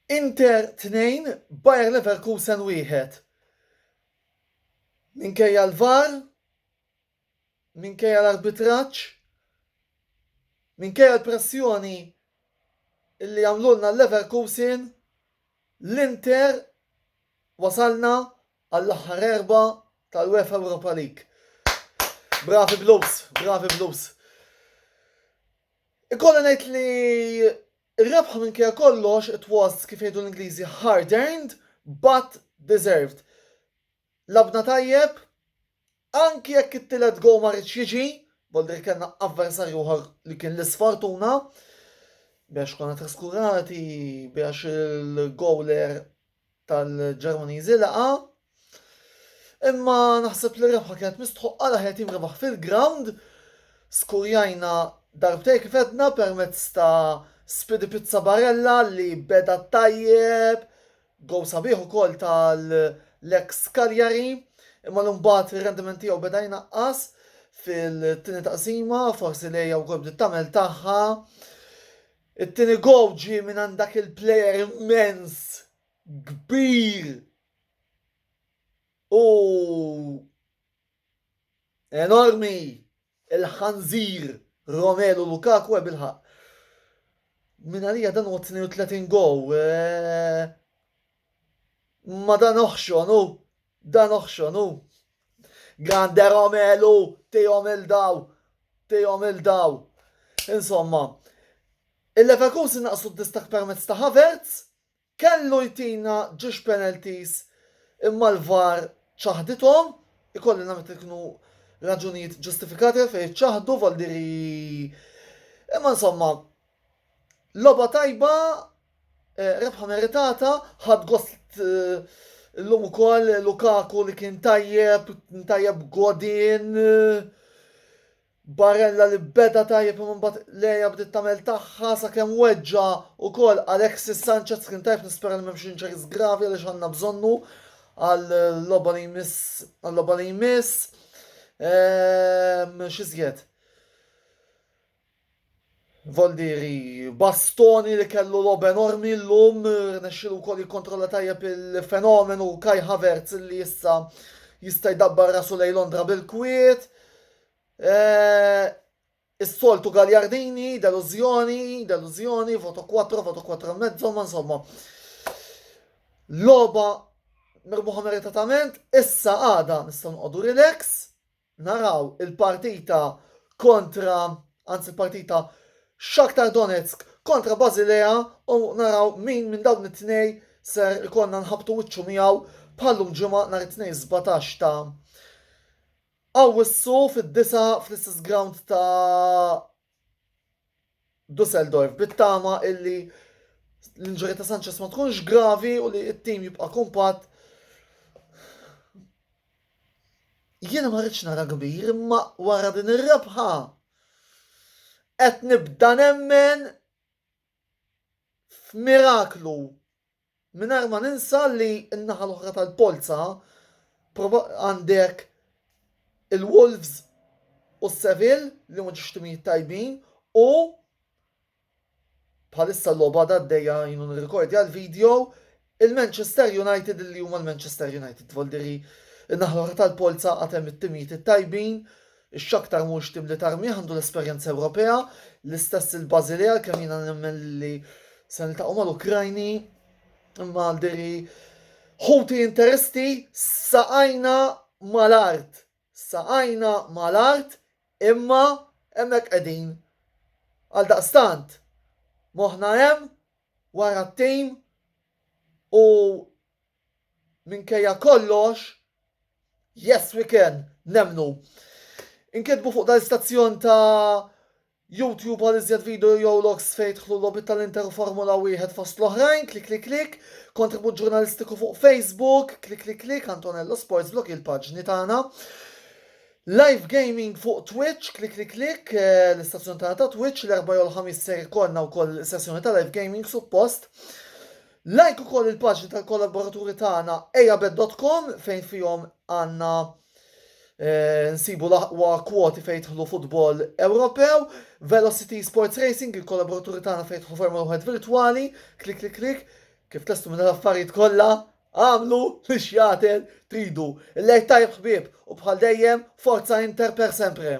Inter 2, Bayer Leverkusen 1. Minkejja l-VAR, minkejja l-arbitraġġ, minkejja l-pressjoni illi għamlulna l-Leverkusen, l-Inter wasalna għall-aħħar erbgħa tal-UEFA Europa League. Bravi Blues, bravi Blues. Ikolli ngħid li r-rebħa minkejja kollox it was kif jgħidu l-Ingliżi hard earned but deserved. Labna tajjeb, Anki jekk it-tielet goal ma riedx jiġi, vuol dire kellna avversarju ieħor li kien l-isfortuna biex konna traskurati biex il-goaler tal-Ġermaniżi laqa. Imma naħseb li rebħa kienet mistħoqqa l-aħjar tim rebaħ fil-ground. Skurjajna darbtej kif edna permezz ta' Spidi Pizza Barella li beda tajjeb Gowl sabiħ ukoll tal-Lex Cagliari, imma li mbagħad ir-rendiment tiegħu beda jnaqqas fil-tieni taqsima, forsi lejja wkoll bdiet tagħmel tagħha. It-tieni gowl ġie minn għand dak il-plejer immens kbir u enormi Il-ħanżir Romelu Lukaku għeb il-ħaqq. Minn għalija dan huwa 32 gow. Ma dan oħxon hu, dan oħxon hu. Grande Romelu, tijom il-daw, tijom il-daw. Insomma, il-Leverkusen naqsu d-distak permezz ta' Havertz, Kellu jtina ġiex penalties imma l-VAR ċaħdithom, ikolli nammetti li kienu raġunijiet ġustifikati għalfejn iċċaħdu, Valdieri imma insomma logħba tajba, rebħa meritata, ħadt gost illum ukoll Lukaku li kien tajjeb, kien tajjeb Godin, Barella li beda tajjeb imma mbagħad Leja bdiet tagħmel tagħha sakemm weġġa' ukoll Alexis Sanchez kien tajjeb nispera li m'hemmx injuries gravi għaliex għandna bżonnu għal-logħba li jmiss għal-logħba li jmiss. Ehm, x'iżjed? Voldieri Bastoni li kellu logħob enormi llum rnexxielu wkoll jikkontrolla tajjeb il-fenomenu Kai Havertz li issa jista' jdabbar rasu lejn Londra bil-kwiet. Eh, Is-soltu Gagliardini, delużjoni, delużjoni, voto 4, voto 4 e mezzo, ma insomma. Loba merbuħa meritatament, issa għada nistgħu nqogħdu relax, Naraw il-partita kontra, anzi l-partita Shakhtar Donetsk kontra Basilea u naraw min minn dawn it-tnej ser ikollna nħabbtu wiċċu miegħu bħal llum Ġimgħa nhar it-Tnejn 17 ta' Awwissu fid-disgħa fl-istess ground ta' Dusseldorf bit-tama illi l-injury ta' Sanchez ma tkunx gravi u li t-tim jibqa' kumpatt. Jiena ma rridx nara kbir imma wara din ir-rebħa qed nibda nemmen f'miraklu Mingħajr ma ninsa li n-naħa l-oħra tal-polza għandek il-Wolves u s-Seville li huma ġiex timijiet tajbin u bħalissa l-logħba għadha għaddejja għinu nirrikordja l-video, il-Manchester United li huma l-Manchester United. Dvoldieri n-naħa l-oħra tal-polza għad hemm it-timijiet it-tajbin X'aktar mhux tim li tarmih għandu l-esperjenza Ewropea, l-istess il-Basilea għalkemm jiena nemmen li se niltaqgħu mal-Ukrajni imma diri ħuti interisti saqajna mal-art. Saqajna mal-art imma hemmhekk qegħdin. Għaldaqstant, moħħna hemm wara t-tim u Minkejja kollox, Yes We Can, nemmnu. Inkitbu fuq dal-istazzjon ta' YouTube għal iżjed video jew logs fejn jidħlu logħbiet tal-Inter u Formula Wieħed fost l-oħrajn, klik klik klik, kontribut ġurnalistiku fuq Facebook, klik klik klik, Antonello Sports Blog il-paġni tagħna. Live gaming fuq Twitch, klik klik klik, eh, l-istazzjon tagħna ta' Twitch, l-erba' jew l-ħamis ser ikollna wkoll sessjoni ta' live gaming suppost. Like ukoll il-paġni tal-kollaboraturi tagħna ejabet.com fejn fihom għandna eh, nsibu l-aqwa kwoti fejn jidħlu futbol Ewropew, Velocity Sports Racing, il-kollaboraturi tagħna fejn jidħlu Formula 1 virtwali, klik klik klik, kif testu minn l-affarijiet kollha, għamlu li xjatel tridu. Il-lejt tajb ħbib u bħal dejjem forza Inter per sempre.